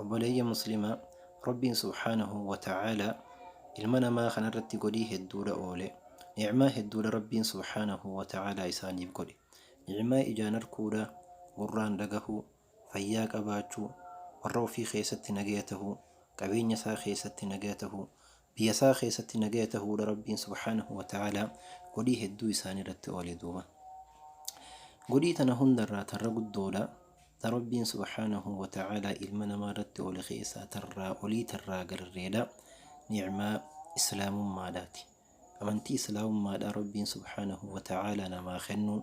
Obboleeyyan muslimaa Rabbiin subhaanahu wa ta'aalaa ilma namaa kana irratti godhii hedduudha oole. Ni'maa hedduudha Rabbiin subhaanahu wa ta'aalaa isaaniif godhe. Ni'maa ijaan arkuudha, gurraan dhagahuu, fayyaa qabaachuu, warra ofii keessatti nagaya tahuu, qabeenya isaa keessatti nagaya tahuu, Biyyasaa keessatti nagaya tahuudha Rabbiin subhaanahu wa ta'aalaa godhii hedduu isaanii irratti oole duuba. Godhii tana hundarraa tarra guddoodha ta Rabbiin subhaanahu wa ta'aalaa ilma namaa irratti oole keessaa tarraa olii tarraa gararreedha ni'maa islaamummaadhaati. Amantii islaamummaadhaa Rabbiin subhaanahu wa ta'aalaa namaa kennuun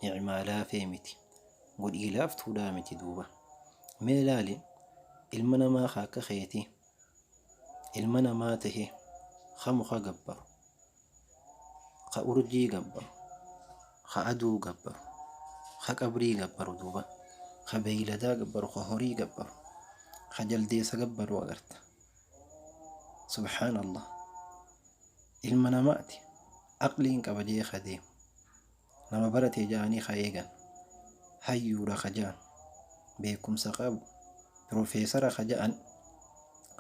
ni'maa laafee miti. Godhii laaftuudhaa miti duuba. Mee laali ilma namaa ka akka keetii ilma namaa tahe ka muka gabbaru ka urjii gabbaru ka aduu gabbaru ka qabrii gabbaru duuba ka beeyladaa gabbaru ka horii gabbaru ka jaldeessa gabbaru agarta subhaanallah ilma namaati aqliin qaba jee ka deemu Nama barate ja'anii ka eegan, hayyuudha ka ja'an, beekumsa qabu, pirofeesara ka ja'an,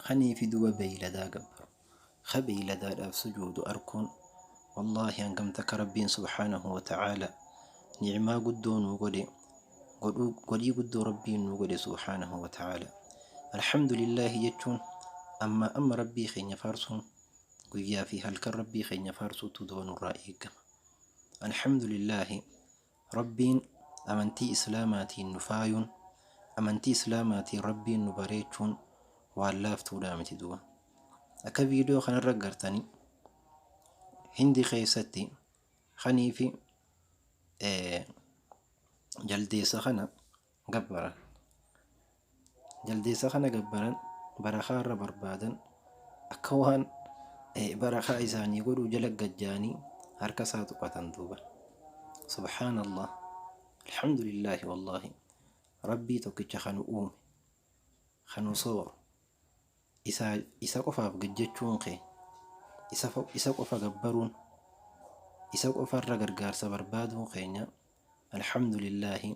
kaniifi duba beeyladaa gabbaru, ka beeyladaadhaaf sujuudu arkuun, wallaahi hangam takka Rabbiin subhaanahu wa ta'aalaa ni'maa guddoo nuu godhe, godhuu, godhii guddoo Rabbiin nuu godhe subhaanahu wa ta'aalaa. Alhamdulillaahi jechuun, ammaa amma Rabbii keenya faarsuun, guyyaa fi halkan Rabbii keenya faarsuutu duba nurraa eegama. Alhamdulillaahi Rabbiin amantii Islaamaatiin nu faayuun, amantii Islaamaatiin Rabbiin nu bareechuun waan laaftuudhaa miti duuba. Akka viidiyoo kanarra agartani Hindi keessatti kaniifi eh, jaldeessa kana gabbaran. Jaldeessa kana gabbaran barakaa irra barbaadan akka waan barakaa isaanii godhuu jala gajjaanii harka isaa tuqatan duuba. Subhaanallah. Alhamdulillaahi wallaahi. Rabbii tokkicha kan uume, kan sooru. Isa, Isa qofaaf gajjachuun kee, Isa, Isa qofa gabbaruun, Isa qofa irra gargaarsa barbaaduun keenya, Alhamdulillaahi,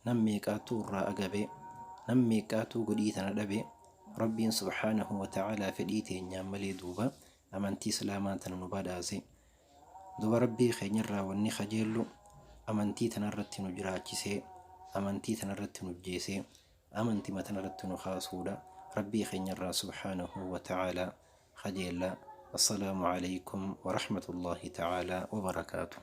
nam meeqaattuu irraa agabe, nam meeqqaattuu godhii tana dhabe, Rabbiin subhaanahu wa ta'aalaa fedhii teenyaan malee duuba amantii Islaamaa tana nu badhaase. Duuba Rabbii keenya irraa wanni kajeellu amantii tana irratti nu jiraachisee, amantii tana irratti nu ijjeesee. amantima tanarratti nu kaasuudha rabbii keenyarraa subhaanahu wa ta'aalaa kajeellaa assalaamu aleykum wa rahmatullaahi ta'aalaa wa barakaatuh.